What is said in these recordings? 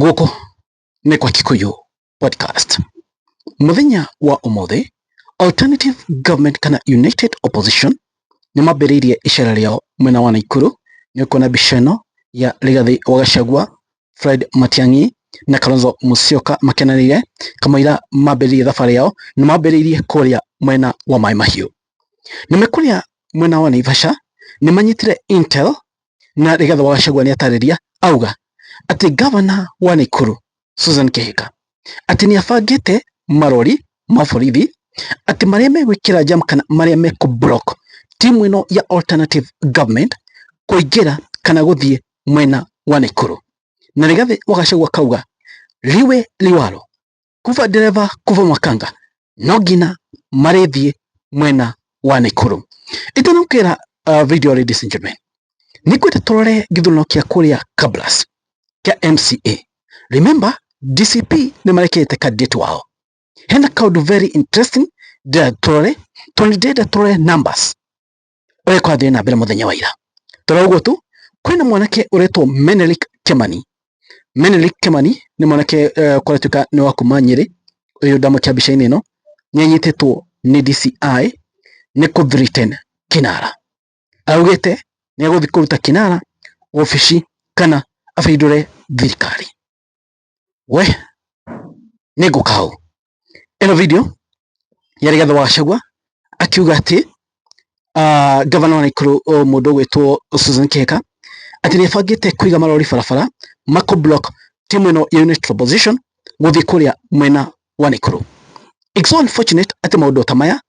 Gũkũ nĩ kwa Kikuyu Podcast. Mũthenya wa ũmũthĩ, Alternative Government kana United Opposition nĩ mambĩrĩirie icera rĩao mwena wa Naikuru. Nĩ ũkuona mbica ĩno ya Rigathi wa Gachagua, Fred Matiang'i na Kalonzo Musyoka makenanĩire kamũira mambĩrĩirie thabarĩ yao. Nĩ mambĩrĩirie kũrĩa mwena wa Maĩ Mahiũ. Na me kũrĩa mwena wa Naivasha, nĩ manyitire Intel na Rigathi wa Gachagua nĩ atarĩria auga atĩ gavana wa Naikuru Susan Kĩhika atĩ nĩ abangĩte marori ma borithi atĩ marĩa megwĩkĩra jam kana marĩa mekũ block timu ĩno ya alternative government kũingĩra kana gũthiĩ mwena wa Naikuru na Rigathi wa Gachagua kauga liwe liwalo Kuva ndereba kuva makanga no ngina marĩthiĩ mwena wa Naikuru itanamkĩra uh, video ladies and gentlemen nĩ kwenda tũrore gĩthurano kĩa kũrĩa Kabras kĩa MCA remember DCP nĩ marekete candidate wao hena kaundu very interesting ndĩrenda tũrore tondũ nĩ ndĩrenda tũrore numbers ũrĩa kwathiĩ na mbere mũthenya wa ira toro ũguo tu kwĩna mwanake ũretwo Menelik Kemani Menelik Kemani nĩ mwanake uh, eh, kwaratuĩka nĩ wa kuma Nyĩrĩ ũyũ ndamũkĩa mbica-inĩ ĩno nĩ anyitĩtwo nĩ DCI nĩ kũ threaten Kinara augĩte nĩ egũthiĩ kũruta Kinara wobici kana abindũre thirikari. we nĩ ngũka hau ĩno video ya Rigathĩ wa Gachagua akiuga atĩ ah, ngavana wa Naikuru oh, mũndũ ũgwĩtwo Susan Kĩhika atĩ nĩ abangĩte kũiga marori barabara mako block timu ĩno ya United Opposition gũthiĩ kũrĩa mwena wa Naikuru. It's so unfortunate atĩ maũndũ ta maya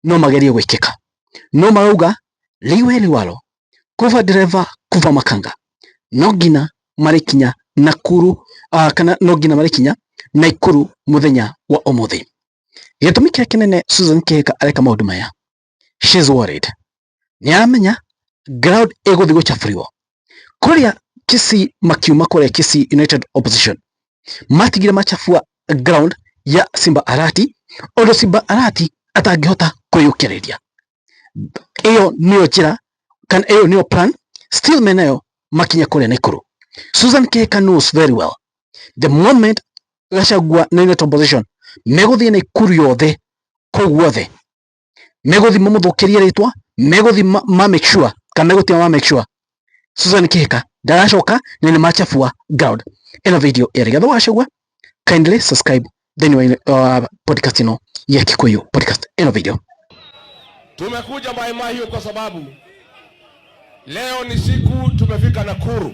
no magerie gwĩkĩka no marauga liwe liwalo kuva ndereva kuva makanga no nginya marĩkinya Nakuru uh, kana no nginya marĩkinya Naikuru muthenya wa umuthi gĩtũmi kĩrĩa kĩnene Susan Kĩhika areka maũndũ maya she's worried nĩ aramenya ground ĩgũthiĩ gũcabũriwo kũrĩa Kisii makiuma kũrĩa Kisii United Opposition matigire macabua ground ya Simba Arati ũndũ Simba Arati atangĩhota kwĩyũkĩrĩria. Ĩyo nĩyo njĩra kana ĩyo nĩyo plan still me nayo makinya kũrĩa Naikuru. Susan Kihika knows very well the moment Gachagua na United Opposition megũthiĩ Naikuru yothe kũu guothe megũthi mamũthũkĩrie rĩtwa megũthi ma make sure kana megũtima ma make sure Susan Kihika ndaracoka na nĩ machafua ground ĩno video ĩrĩ gatho wacagua kindly subscribe then wa uh, podcast ino ya Kikuyu podcast ĩno video tumekuja Mai Mahiu kwa sababu leo ni siku tumefika Nakuru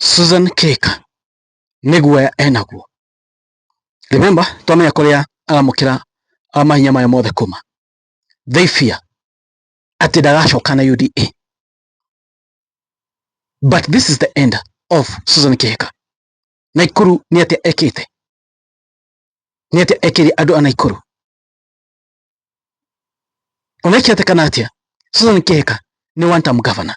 Susan Keka nĩ guoya enaguo. Remember twamenya kũrĩa aramũkĩra mahinya maya mothe kuma. They fear atĩ ndagacoka na UDA. But this is the end of Susan Kihika. Naikuru nĩ atĩa ekĩte? Nĩ atĩa ekĩire andũ a Naikuru? Ona ikĩatekana atĩa, Susan Kihika nĩ one term governor.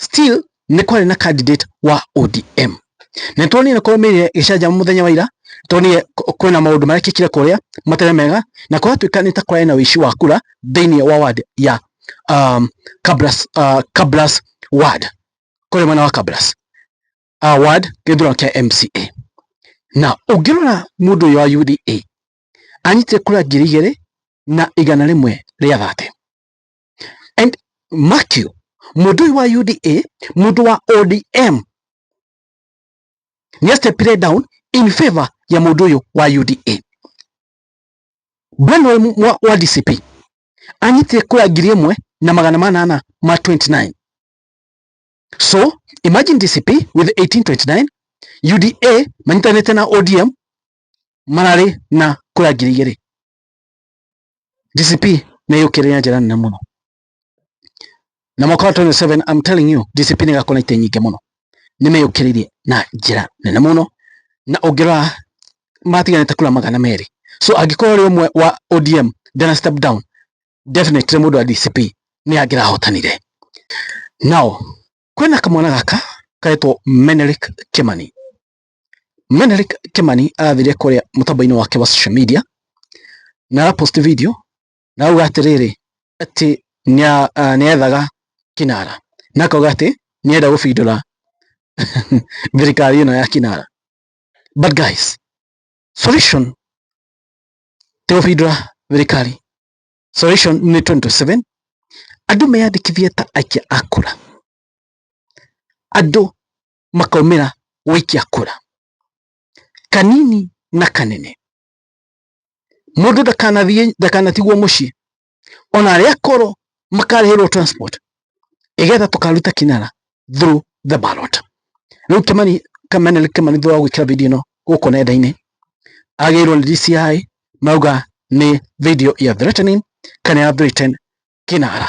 still nĩ kwarĩ na candidate wa ODM na nĩ tuonire korwo mĩrire gĩcanjama mũthenya wa ira tuonire kwĩna maũndũ marekĩkire kũrĩa matarĩ mega na kũratuĩka nĩ ta kwarĩ na ũici wa kura thĩinĩ wa ward ya um, Kabras, uh, Kabras ward kũrĩ mwena wa Kabras uh, ward gĩthurano kĩa MCA na ũngĩrora mũndũ ũyũ wa UDA anyitire kura ngiri igĩrĩ na igana rĩmwe rĩa thate and mark you mũndũ ũyũ wa UDA mũndũ wa ODM nĩ astepire down in favor ya mũndũ ũyũ wa UDA bwana wa, wa DCP anyitire kura ngiri ĩmwe na magana manana ma 29 so imagine DCP with 1829 UDA manyitanĩte na ODM mararĩ na kura ngiri igĩrĩ DCP nĩ yũkĩrĩre na njĩra nene mũno na mwaka wa 27 I'm telling you DCP nĩ ĩgakorwo na itĩ nyingĩ mũno nĩ meyũkĩrĩirie na njĩra nene mũno na ũngĩrora matiganĩte kura magana merĩ so angĩkorwo ũrĩ ũmwe wa ODM ndana step down definitely mũndũ wa DCP nĩ angĩrahotanire now kwĩna kamwana gaka karetwo Menelik Kimani Menelik Kimani arathire kũrĩa mũtambo-inĩ wake wa social media na ara post video na auga atĩrĩrĩ atĩ nĩethaga ah, Kinara na akauga atĩ nĩenda gũbindũra thirikari ĩno ya Kinara. But guys, solution ti gũbindũra thirikari. Solution nĩ 2027 andũ meyandĩkithie ta aikia a kura. Andũ makaumĩra gũikia kura. Kanini na kanene. Mũndũ ndakanathiĩ ndakanatigwo mũciĩ. Ona arĩa akũrũ makarĩhĩrwo transport nĩgetha tũkaruta kinara through the ballot. Rĩu Kimani Kamene Kimani thutha wa gwĩkĩra video ĩno gũkũ nenda-inĩ agĩrwo nĩ DCI mauga nĩ video ya threatening kana ya threaten kinara.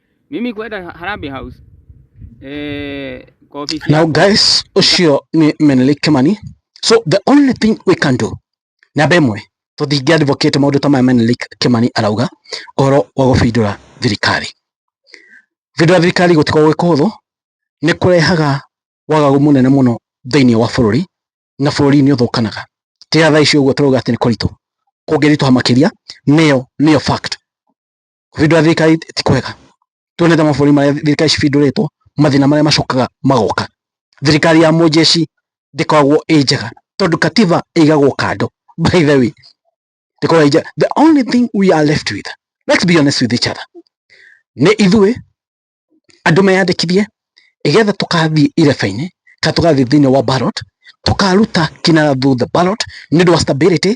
mimi kwenda Harambee House eh, kwa ofisi Now, yako. guys, Oshio ni Menelik Kimani. So the only thing we can do na bemwe to thingi advocate maundu ta maya Menelik Kimani arauga oro wa gubindura thirikari. Bindura thirikari gutikorwo gwĩ kũhũthũ nĩ kũrehaga wagagu mũnene mũno thĩinĩ wa bũrũri na bũrũri nĩ ũthũkanaga. Tiga thaa ici ũguo tũrauga atĩ nĩ kũritũ, kũngĩritũha makĩria nĩyo nĩyo fact. Kũbindũra thirikari ti kwega. Tuone ta mabũrũri marĩa thirikari cibindũrĩtwo, mathĩna marĩa macokaga magoka. Thirikari ya mũnjeci ndĩkoragwo ĩ njega tondũ Katiba ĩigagwo kando. By the way, ndĩkoragwo ĩ njega. The only thing we are left with, let's be honest with each other, nĩ ithuĩ andũ meyandĩkithie nĩgetha tũkathiĩ ireba-inĩ kana tũgathiĩ thĩinĩ wa ballot tũkaruta kinara through the ballot nĩ ũndũ wa stability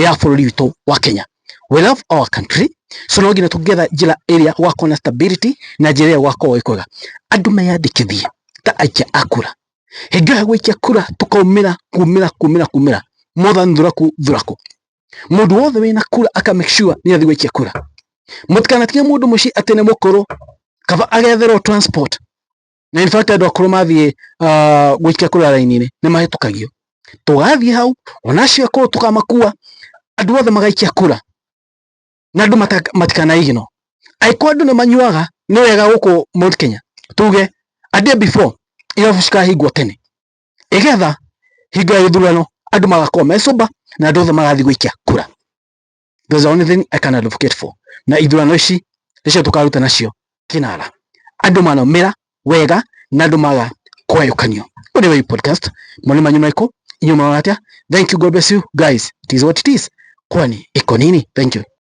ya bũrũri witũ wa Kenya. We love our country so no nginya tũngĩetha njĩra ĩrĩa gũgakorwo na stability na njĩra ĩrĩa gũgakorwo ĩ kwega. Andũ meyandĩkithie ta aikia a kura, hingo ĩrĩa gũikia kura tũkaumĩra kumĩra kumĩra kumĩra more than thuraku thuraku. mundu wothe wina kura aka make sure ni athi gwikia kura mutikanatige mundu muci ati ni mukuru kaba agetherwo transport na in fact andu akuru mathie uh, gwikia kura raini-ini ni mahitukagio tugathie hau ona acio akuru tukamakua andu othe magaikia kura na andu matikanaigino aiko andu ni manyuaga ni wega guku Mount Kenya tuge a day before irabu cikahingwo tene ĩgetha hingo ya gĩthurano andũ magakorwo me sober na andũ othe magathiĩ gũikia kura there's the only thing I can advocate for na ithurano ici nĩcio tũkaruta nacio kinara andũ manaumĩra wega na andũ maga kwayũkanio ũrĩ wa podcast mwana manyu maiko inyuma watia thank you god bless you guys it is what it is kwani iko nini thank you